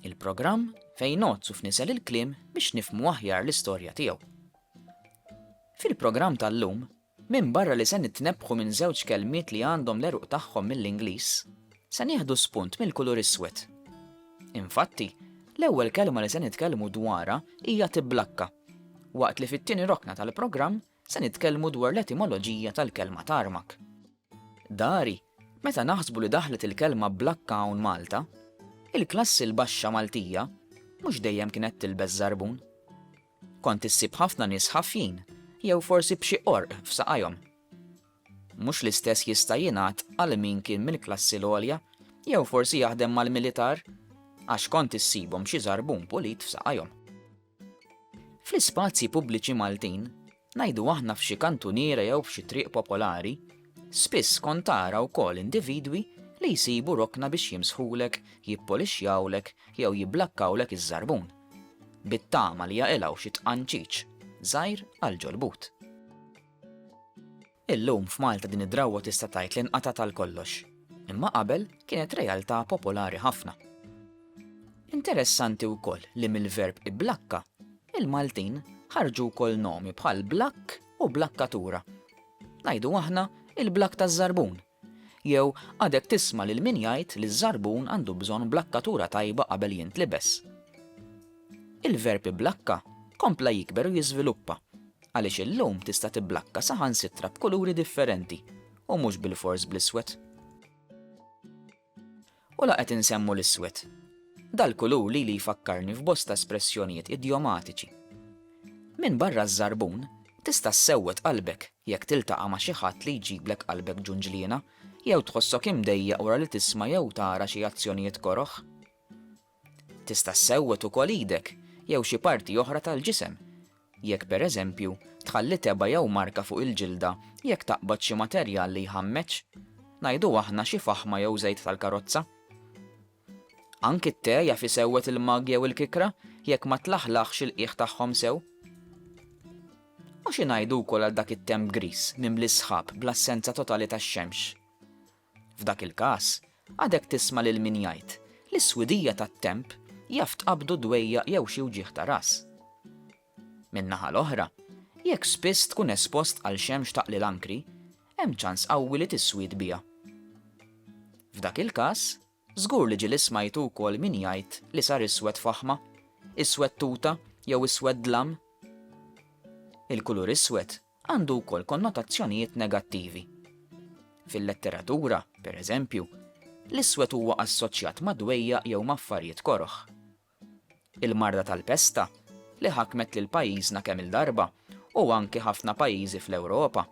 Il-programm fejn ngħodd u fniżel il-kliem biex nifhmu aħjar l-istorja tiegħu. Fil-programm tal-lum, minbarra li se nitnebbħu minn żewġ kelmiet li għandhom l-għeruq tagħhom mill-Ingliż, se nieħdu spunt mill-kulur iswed. Infatti, l-ewwel kelma li se nitkellmu dwarha hija tibblakka, waqt li fit-tieni rokna tal-programm Se nitkellmu dwar l-etimoloġija tal-kelma tarmak. Dari, meta naħsbu li daħlet il-kelma blakka hawn Malta, il-klassi l-baxxa Maltija mhux dejjem kienet tilbes żarbun. Kont issib ħafna nies ħafjin jew forsi b'xi qorq f'saqajhom. Mhux l-istess jista' jingħad għal min kien mill-klassi l-għolja jew forsi jaħdem mal-militar, għax kont issibhom xi żarbun pulit f'saqajhom. Fl-ispazji pubbliċi Maltin, ngħidu aħna f'xi kantuniera jew f'xi triq popolari, spiss kont tara wkoll individwi li jsibu rokna biex jimsħulek, jippolixxjawlek jew jibblakkawlek iż-żarbun, bit-tama li jaqilgħu xi tqanċiċ żgħir għall-ġolbut. Illum f'Malta din id-drawwa tista' tgħid li nqatgħet għal kollox, imma qabel kienet realtà popolari ħafna. Interessanti wkoll li mill-verb ibblakka, il-Maltin ħarġu wkoll nomi bħal blakk u blakkatura. Ngħidu aħna il-blakk taż-żarbun. Jew għadek tisma' lil min jgħid li ż-żarbun għandu bżonn blakkatura tajba qabel jintlibes? Il-verb iblakka kompla jikber u jiżviluppa, għaliex illum tista' tibblakka saħansitra b'kuluri differenti u mhux bilfors bl-iswed. U la qed insemmu l-iswed. Dal-kulur lili jfakkarni f'bosta espressjonijiet idjomatiċi. Minbarra ż-żarbun, tista' ssewwed qalbek jekk tiltaqa' ma' xi ħadd li jġiblek qalbek ġunġliena jew tħossok imdejjaq wara li tisma' jew tara xi azzjonijiet koroh. Tista' ssewwed ukoll idek jew xi parti oħra tal-ġisem, jekk pereżempju tħalli tebgħa jew marka fuq il-ġilda jekk taqbad xi materjal li jħammeġ, ngħidu aħna xi faħma jew żejt tal-karozza. Anki t-te jaf isewwed il-mug jew il-kikra jekk ma tlaħlaħx il-qiegħ tagħhom sew. U xi ngħidu wkoll għal dak it-temp griż mimli s-sħab bl-assenza totali tax-xemx? F'dak il-każ, għadek tisma' lil min jgħid li s-swidija tat-temp jaf tqabbdu dwejjaq jew xi wġigħ ta' ras. Min-naħa l-oħra, jekk spiss tkun espost għal xemx taqli l-ankri, hemm ċans qawwi li tiswied biha. F'dak il-każ, Żgur li ġieli smajtu wkoll min jgħid li sar iswed faħma, iswed tuta jew iswed dlam. Il-kulur iswed għandu wkoll konnotazzjonijiet negattivi. Fil-letteratura, pereżempju, l-iswed huwa assoċjat ma' dwejjaq jew ma' affarijiet koroh. Il-marda tal-pesta, li ħakmet lil pajjiżna kemm-il darba, u anki ħafna pajjiżi fl-Ewropa,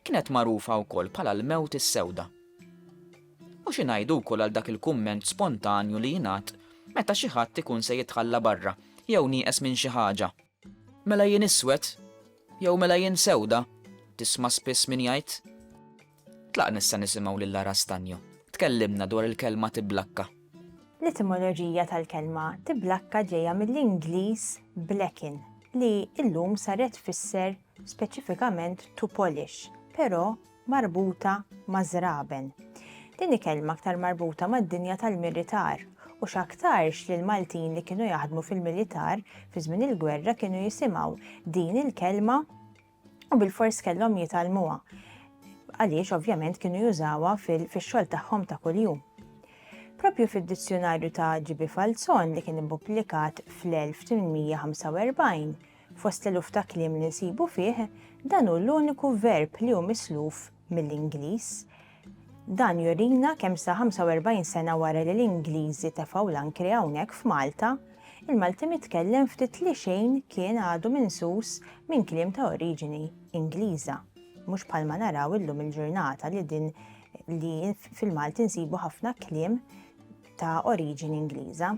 kienet magħrufa wkoll bħala l-mewt is-sewda. U xi ngħidu wkoll għal dak il-kumment spontanju li jingħad meta xi ħadd ikun se jitħalla barra jew nieqes minn xi ħaġa? Mela jien iswed? Jew mela jien sewda? tisma' spiss min jgħid. Tlaqna issa nisimgħu lil Lara Stagno tkellimna dwar il-kelma tiblakka. L-etimoloġija tal-kelma tiblakka ġejja mill-Ingliż blacken li llum sar qed tfisser speċifikament to polish, però marbuta ma' żraben. Din hi kelma aktar marbuta mad-dinja tal-militar, u x'aktarx li l-Maltin li kienu jaħdmu fil-militar fi żmien il-gwerra kienu jisimgħu din il-kelma u bilfors kellhom jitgħallmuha, għaliex ovvjament kienu jużawha fix-xogħol tagħhom ta' kuljum. Proprju fid-dizzjunarju ta' GB. Falzon li kien ippubblikat fl-1845, Fost l-eluf ta' kliem li nsibu fih, dan hu l-uniku verb li hu misluf mill-Ingliż. Dan jurina kemm sa 45 sena wara li l-Ingliżi tefgħu l-ankri hawnhekk f'Malta, il-Malti mitkellem ftit li xejn kien għadu minsus minn kliem ta' oriġini Ingliża, mhux bħalma naraw illum il-ġurnata li din li fil-Malti nsibu ħafna kliem ta' oriġini Ingliża.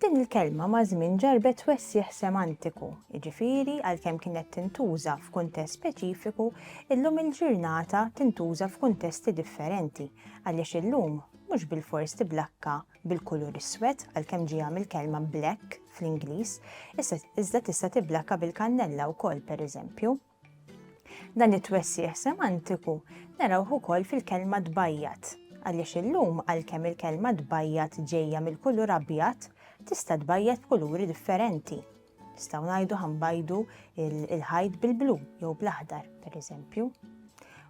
Din il-kelma maż-żmien ġarrbet twessigħ semantiku, jiġifieri għalkemm kienet tintuża f'kuntest speċifiku, illum il-ġirnata tintuża f'kuntesti differenti għaliex illum mhux bilfors tiblakka bil-kulur iswed għalkemm ġieha mill-kelma black fl-Ingliż, iżda tista' tiblakka bil-kannella wkoll pereżempju. Dan it-twessieħ semantiku narawh ukoll fil-kelma tbajjat, għaliex illum għalkemm il-kelma tbajjat ġejja mill-kulur abjad, tista' tbajjat b'kuluri differenti. Nistgħu ngħidu ħanbajdu il-ħajt bil-blu jew bl-aħdar, pereżempju.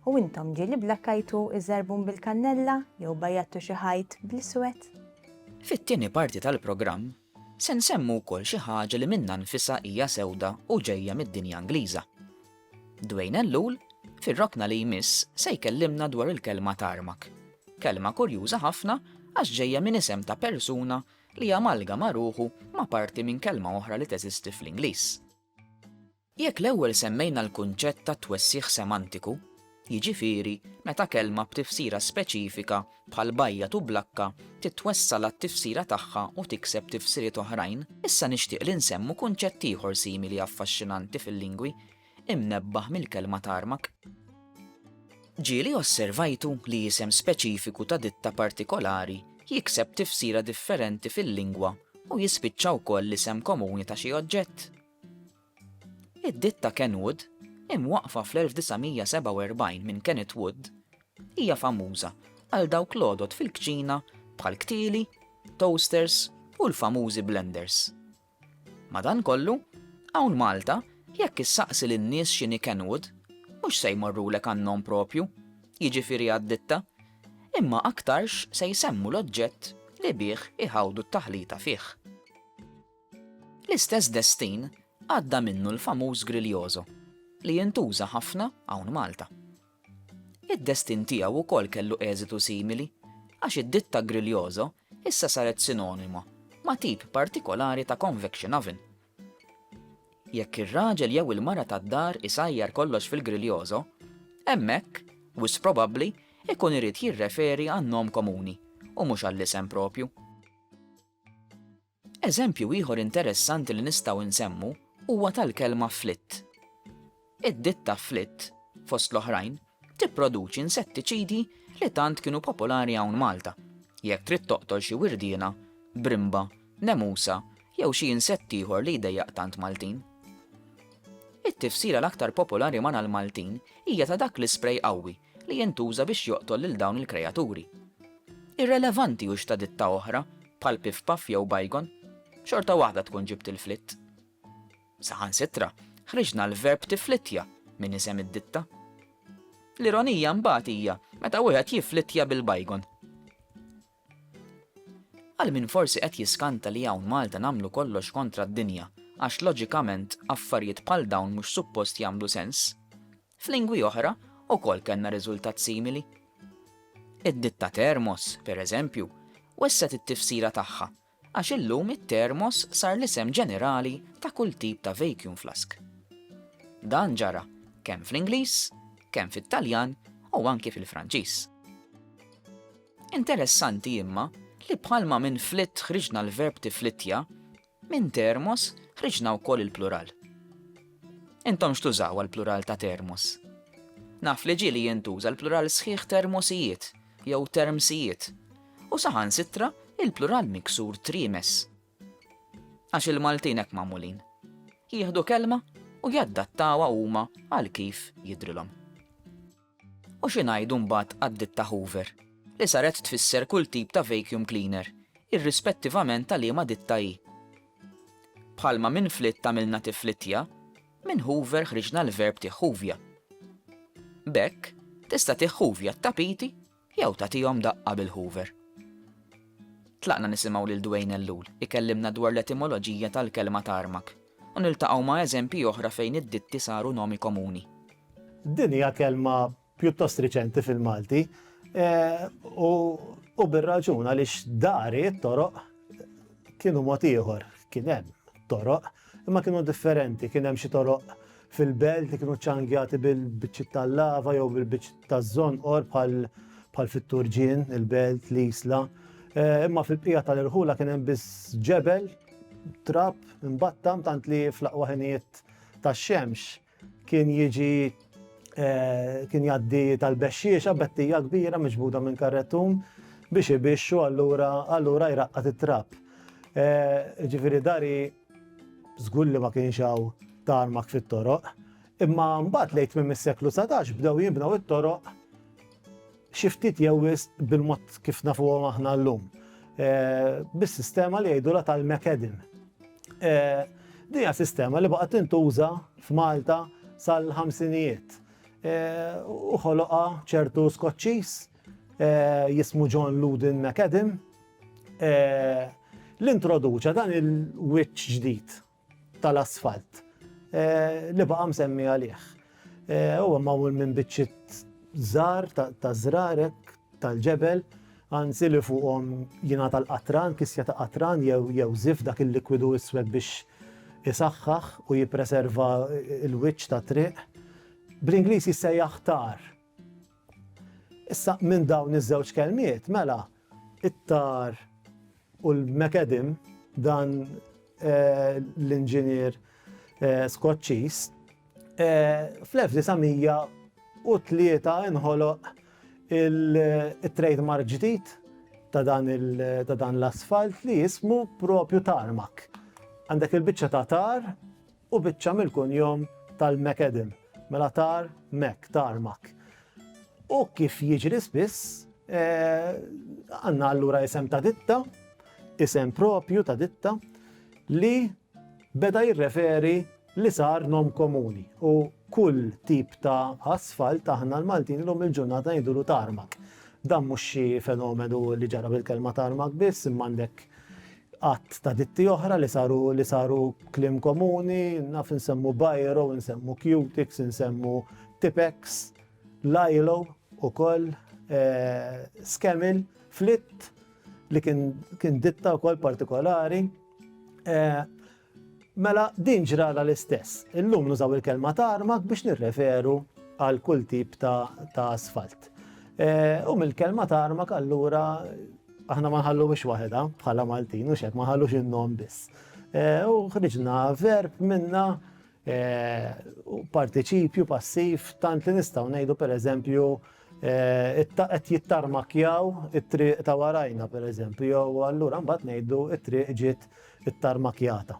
U intom ġieli blakkajtu iż-żarbun bil-kannella jew bajjattu xi ħajt bl-iswed? Fit-tieni parti tal-programm Se nsemmu wkoll xi ħaġa li minnha nfisha hija sewda u ġejja mid-dinja Ingliża. Dwayne Ellul, fir-rokna li jmiss, se jkellimna dwar il-kelma tarmak. Kelma kurjuża ħafna għax ġejja minn isem ta' persuna li amalgama ruħu ma' parti minn kelma oħra li teżisti fl-Ingliż. Jekk l-ewwel semmejna l-kunċett ta' twessiegħ semantiku, jiġifieri meta kelma b'tifsira speċifika bħal bajjat u blakka titwessa' għat-tifsira tagħha u tikseb tifsiriet oħrajn, issa nixtieq li nsemmu kunċett ieħor simili affaxxinanti fil-lingwi, imnebbaħ mill-kelma tarmak. Ġieli osservajtu li isem speċifiku ta' ditta partikolari jikseb tifsira differenti fil-lingwa u jispiċċa wkoll l-isem komuni ta' xi oġġett, Id-ditta Kenwood, imwaqqfa fl-1947 minn Kenneth Wood, hija famuża għal dawk l-għodod fil-kċina bħall-ktieli, toasters u l-famużi blenders. Madankollu, hawn Malta jekk issaqsi lin-nies x'inhi Kenwood, mhux se jmorrulek għan-nom proprju, jiġifieri għad-ditta, imma aktarx se jsemmu l-oġġett li bih iħawdu t-taħlita fih. L-istess destin għadda minnu l-famuż Griljoso, li jintuża ħafna hawn Malta. Id-destin tiegħu wkoll kellu eżitu simili għax id-ditta Griljoso issa saret sinonima ma' tip partikolari ta' convection oven. Jekk ir-raġel jew il-mara tad-dar isajjar kollox fil-Griljoso, hemmhekk, wisq probabbli, ikun irid jirreferi għan-nom komuni u mhux għall-isem proprju. Eżempju ieħor interessanti li nistgħu nsemmu huwa tal-kelma flitt. Id-ditta flitt, fost l-oħrajn, tipproduċi insettiċidi li tant kienu popolari hawn Malta, jekk trid toqtol xi wirdiena, brimba, nemusa jew xi insett ieħor li jdejjaq tant Maltin. It-tifsira l-aktar popolari ma' l-Maltin hija ta' dak l-isprej qawwi li jintuża biex joqtol lil dawn il-krejaturi. Irrelevanti hux ta' ditta oħra, bħal Piff Puff jew Bygone, xorta waħda tkun ġibt il-flitt. Saħansitra, ħriġna l-verb tifflittja minn isem id-ditta. L-ironija mbagħad hija meta wieħed jifflittja bil-bygone. Għal min forsi qed jiskanta li hawn Malta nagħmlu kollox kontra d-dinja għax loġikament affarijiet bħal dawn mhux suppost jagħmlu sens, F'lingwi oħra wkoll kellna riżultat simili. Id-ditta Thermos, pereżempju, wessgħet it-tifsira tagħha għax illum it-Thermos sar l-isem ġenerali ta' kull tip ta' vacuum flask. Dan ġara kemm fl-Ingliż, kemm fit-Taljan u anki fil-Franċiż. Interessanti imma li bħalma minn flitt ħriġna l-verb tiflittja, Minn termos ħriġna wkoll il-plural. Intom x'tużaw għall-plural ta' termos? Naf li ġieli jintuża l-plural sħiħ termosijiet jew termsijiet u saħansitra il-plural miksur triemes. Għax il-Maltin hekk magħmulin. Jieħdu kelma u jaddattawha huma għal kif jidrilhom. U xi ngħidu mbagħad għad-ditta Hoover, li saret tfisser kull tip ta' vacuum cleaner, irrispettivament ta' liema ditta hi? Bħalma minn flitt għamilna tiflittja, minn hoover ħriġna l-verb tiħħuvja. B'hekk, tista' tiħħuvja t-tapiti Jew tagħtihom daqqa bil-hoover. Tlaqna nisimgħu lil Dwayne Ellul ikellimna dwar l-etimoloġija tal-kelma tarmak u niltaqgħu ma' eżempji oħra fejn id-ditti saru nomi komuni. Din hija kelma pjuttost riċenti fil-Malti u bir-raġun għaliex dari, toroq, kienu mod ieħor. Kien hemm toroq, imma kienu differenti. Kien hemm xi toroq Fil-belt li kienu ċċangjati bil-biċċiet tal-lava jew bil-biċċ taż-żonqor bħal fit-Turġien, il-belt, l-Isla. Eh, imma fil-bqija tal-irħula kien hemm biss ġebel, trab, imbattam tant li fl-aqwa ħinijiet tax-xemx kien jiġi eh, kien jaddi tal-bexxiexa bettija kbira miġbuda minn karretun biex ibixxu allura allura jraqqat it-trab. Eh, ġifieri dari Żgur li ma kienx hawn tarmak fit-toroq, imma mbagħad lejn tmiem is-seklu satax bdew jinbnew it-toroq xi ftit jew wisq bil-mod kif nafuhom aħna llum, bis-sistema li jgħidulha tal-macadam. Din hija sistema li baqgħet tintuża f'Malta sal-ħamsinijiet. U ħoloqha ċertu Skoċċiż jismu John Loudon McAdam. li introduċa dan il-wiċċ ġdid tal-asfalt li baqa' msemmi għalih. Huwa magħmul minn biċċiet żgħar ta' żrarek tal-ġebel, anzi li fuqhom jingħata l-qatran, kisja ta' qatran jew żif dak il-likwidu iswed biex isaħħaħ u jippreserva l-wiċċ tat-triq. Bl-Ingliż jissejjaħ tar. Issa, minn dawn iż-żewġ kelmiet, mela, it-tar u l-mekedim dan eh, l-inġinier eh, Skoċċiż eh, fl-1903 inħoloq il-trademark ġdid ta' dan l-asfalt li jismu propju tarmak. Għandek il-biċċa ta' tar u biċċa mill-kunjom tal-McAdam, mela tar Mac, tarmak. U kif jiġri spiss, eh, għanna allura isem ta' ditta, isem propju ta' ditta, li beda jirreferi li sar nom komuni u kull tip ta' asfalt aħna l-Maltin l-lum il-ġurnata jidulu tarmak. Dan mhux xi fenomenu li ġara bil-kelma tarmak biss, imma għandek għadd ta' ditti oħra li saru li saru kliem komuni, naf insemmu bajro, insemmu cutix, insemmu tipex, lajlo u koll eh, skemil, flitt li kien, kien ditta u koll partikolari. Eh, Mela, din ġralha l-istess. Illum nużaw il-kelma tarmak biex nirreferu għal kull tip ta' asfalt. U mill-kelma tarmak allura aħna ma nħalluhiex waħedha bħala Maltin u xek ma nħallux in-nom biss. U ħriġna verb minna Partiċipju passiv tant li nistgħu ngħidu pereżempju qed jittarmakkjaw it-triq ta' warajna pereżempju jew allura mbagħad ngħidu t-triq ġiet ittarmakkjata.